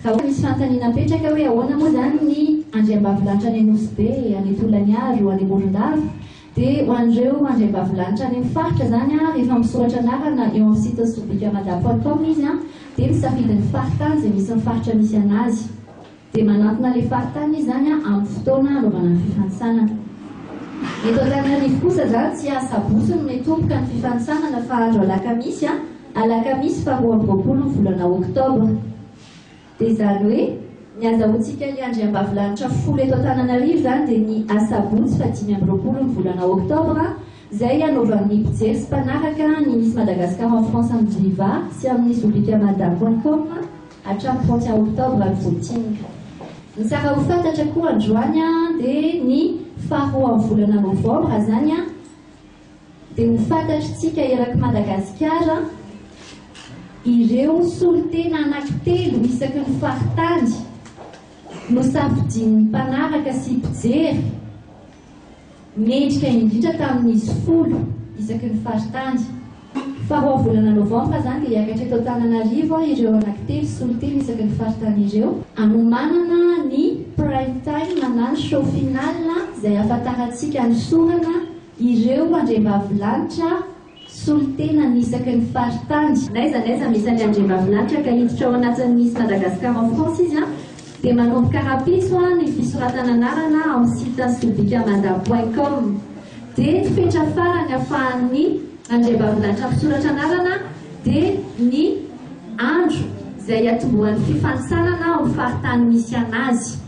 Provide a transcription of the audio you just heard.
Ka hoy misy fanontaniana mipetraka hoe ahoana moa izany ny andriambavilanitra any Nosy Be, any Tolaniaro, any Morondava? Dia ho an'ireo andriambavilanitra any amin'ny faritra izany an, rehefa misoratra anarana eo amin'ny site sobikamada point com izy an, dia misafidy ny faritany izay misy ny faritra misy an'azy. Dia manantona ilay faritany izy izany an, amin'ny fotoana hanaovana ny fifanintsanana. Eto Antananarivo kosa izany tsy asabotsy no mety tomboka ny fifanintsanana fa andro alakamisy an. Alakamisy faha roa amby roapolo ny volana oktobra. Dia izany hoe ny azahoantsika hiandry ambavilanitra folo eto Antananarivo izany dia ny asabotsy faha dimy amby roapolo ny volana oktobra izay hanaovan'ny mpijery sy mpanaraka ny Miss Madagascar en France amin'ny Viva sy amin'ny Zubicamada point com hatramin'ny trente et un oktobra any Voatinga. Ny tsara ho fantatra koa androany dia ny faha roa amin'ny volana novambra izany dia ho fantatr'tsika eraky Madagasikara ireo solontena anankitelo isaky ny faritany nosafidian'ny mpanaraka sy mpijery mendrika indrindra tamin'izy folo isaky ny faritany. Faharoa volana novambra izany dia hiakatra eto Antananarivo ireo anankitelo solontena isaky ny faritany ireo hanomanana ny Prime Time na ny Show Final izay hahafantarantsika hanosorana Ireo andriambavilanitra solontenany isaky ny faritany. N'aiza n'aiza misy ny andriambavilanitra ka hiditra ao anatin'ny Miss Madagascar en France izy dia manomboka rahampitso ny fisoratana anarana ao amin'ny site sobikmada point com. Dia ny fetra farany afahan'ny andriambavilanitra misoratra anarana dia ny andro izay hiatombohan'ny fifanintsanana ao amin'ny faritany misy anazy.